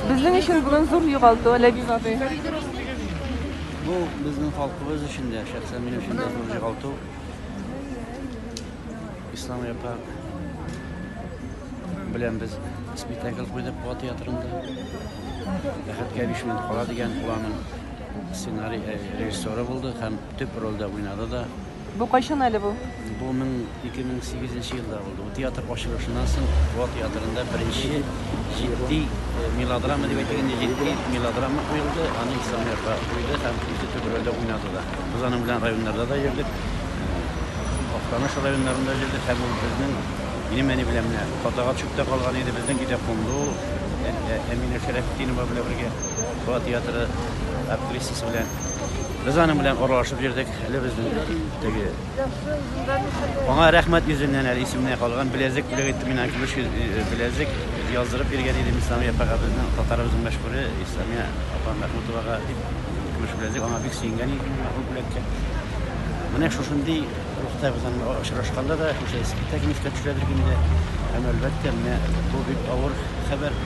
Безнең өчен бүген зур югалту, Ләбиб абый. Бу безнең халкыбыз өчен дә, шәхсән минем өчен дә зур югалту. Ислам япа белән без спектакль куйдык Куа театрында. Бәхеткә биш минут кала дигән планың сценарий режиссеры булды һәм төп рольдә уйнады да. Бу кайчан әле бу? Бу 2008 нче елда булды. Бу театр ачылышыннан соң Буа театрында беренче җитди э, мелодрама дип әйтелгән җитди мелодрама куелды. Аны Ислам Ярбаев куйды һәм үзе төп рольдә уйнады да. Без аның белән районнарда да йөрдек. Актаныш районнарында җирдек һәм ул безнең минем әни белән менә Катага төшеп калган иде, безнең өйдә кунды ул ә, ә, Әминә Шәрәфетдинова белән бергә Фуат театры актрисасы белән. Без аның белән аралашып йөрдек. Әле безнең теге Аңа рәхмәт йөзеннән әле исемнән калган беләзек бүләк итте мина көмеш э, э, беләзек яздырып биргән иде Исламия апага безнең татарыбызның мәшһүре Исламия апа Мәхмүтовага дип көмеш беләзек аңа бик сөенгән иде мәрхүм бүләккә. Менә шушындый рухта безнең очрашканда да шушы искиткә кимешкә төшәдер инде. Һәм әлбәттә менә бу бик авыр хәбәр.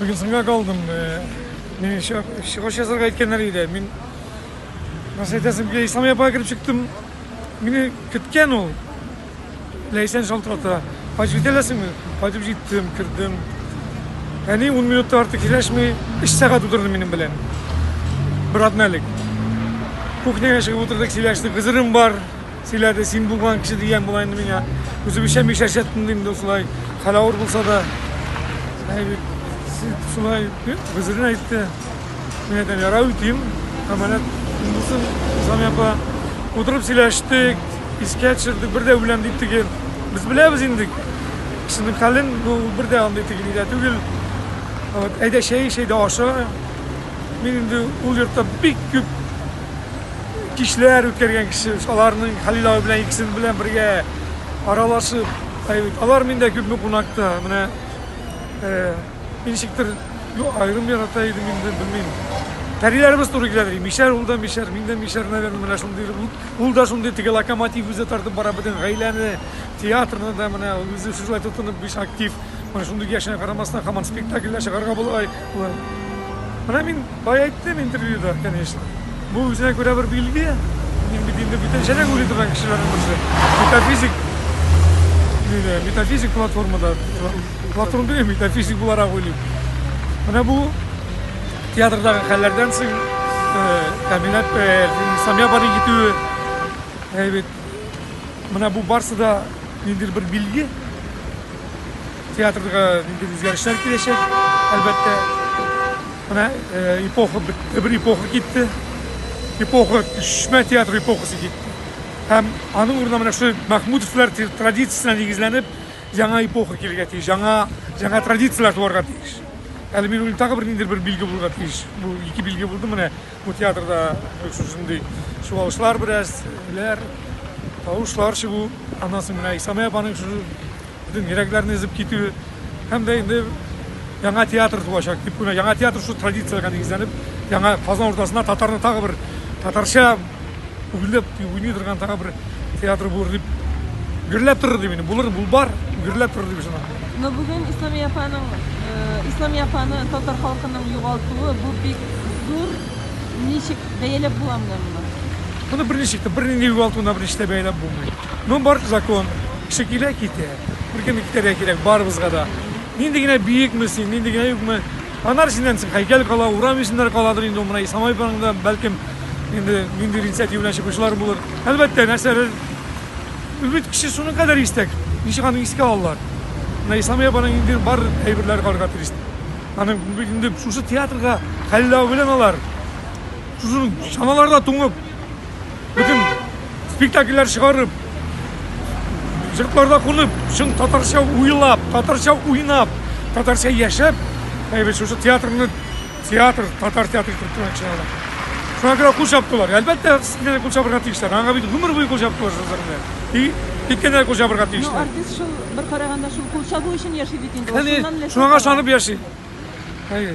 Бүген соңга калдым. Мин еще чыгыш язарга әйткәннәр иде. Мин Нас әйтәсем килә, Исламия апага кереп чыктым. Мине көткән ул. Ләйсән шалтырата. Кайтып җитәләсеңме? Кайтып җиттем, кердем. Әни 10 минутта артык сөйләшми, 3 сәгать утырды минем белән. Бер атна элек. Кухняга чыгып утырдык, сөйләштек. Хызырым бар. Сөйләде, син булган кеше дигән була инде миңа. Үзебезчә мишәрчә тотынды инде шулай. Хәл авыр булса да. Шулай гозерен әйтте. Мин әйтәм, ярай үтим. Әманәт булсын, Ислам апа. Утырып сөйләштек, искә төшердек, бер дә үләм дип тегел. Без беләбез инде. Кешенең хәлен бу бер дә андый тегел дә түгел. Вот, әйдә чәй, чәй дә аша. Мин инде ул йортта бик күп кичләр үткәргән кеше, аларның Хәлил абый белән икесен белән бергә аралашып, әйбит. Алар миндә күпме кунакта, менә э, ничектер аерым ярата идем инде, белмим. Тәриләребез туры килә ди. Мишәр ул да мишәр, мин дә мишәр, наверное, менә шундый. Ул да шундый теге локомотив үзе тартып бара бөтен гаиләне, театрны да менә үзе шулай тотынып биш актив. Менә шундый яшенә карамастан, хаман спектакльләр чыгарга була. Болай. Менә мин бая әйттем интервьюда, конечно. Бу үзенә күрә бер билге. Мин бит инде бүтәнчәрәк уйлый торган кешеләрнең берсе. Метафизик диде, метафизик платформада. Платформа түгел, метафизик буларак уйлыйм. Менә бу театрдагы хәлләрдән соң Камиләт Самия бары китүе әйбәт. Менә бу барсы да ниндидер бер билге. Театрга ниндидер үзгәрешләр киләчәк, әлбәттә. Менә эпоха бетте, бер эпоха китте. Эпоха, төшмә театр эпохасы китте. Һәм аның урынына менә шул Махмудовлар традициясенә нигезләнеп, яңа эпоха килергә тиеш, яңа, яңа традицияләр туарга тиеш. Әле мин уйлыйм, тагы бер ниндидер бер билге булырга тиеш. Бу ике билге булды менә. Бу театрда шушындый чуалышлар бераз, ләр, тавышлар чыгу, аннан соң менә Исамия апаның шу бөтен йөрәкләрне өзеп китүе һәм дә инде яңа театр туачак дип уйлыйм. Яңа театр шул традициягә нигезләнеп, яңа Казан уртасына татарны тагы бер татарча Гөрләп уйный торган тагы бер театр булыр дип гөрләп торыр дип инде. Булыр, бул бар, гөрләп торыр дип ышанам. Но бүген Исламия апаның, э, Исламия апаны татар халкының югалтуы бу бик зур ничек бәяләп була менә моны? Моны берничек тә, бернинди югалтуына берничек тә бәяләп булмый. Ну, бар закон. Кеше килә, китә. Беркем дә китәргә кирәк, барыбызга да. Нинди генә биекме син, нинди генә юкмы, Анар синнән соң һәйкәл кала, урам исемнәре каладыр инде ул менә Исламай паркында, бәлкем, инде нинди инициатива белән чыгучылар булыр. Әлбәттә, нәрсәдер ул бит кеше шуның кадәр истәк. Ничек аны искә алалар? Менә Исламия апаның инде бар әйберләре карарга тиеш. Аның бит инде шушы театрга хәлләү белән алар шушы чаналарда туңып Бөтен спектакльләр чыгарып, җыркларда кунып, чын татарча уйлап, татарча уйнап, татарча яшәп, әйбәт шушы театрны театр, татар театры итеп тора чыгала. Шуңа күрә кул чаптылар. Әлбәттә, сине кул чабырга тиешләр. Аңа бит гомер буе кул чаптылар шуларны. И киткәндә кул чабырга тиешләр. Ну, артист шул бер караганда шул кул чабу өчен яши бит инде. Шуннан ләззәт. Шуңа шанып яши. Әйе.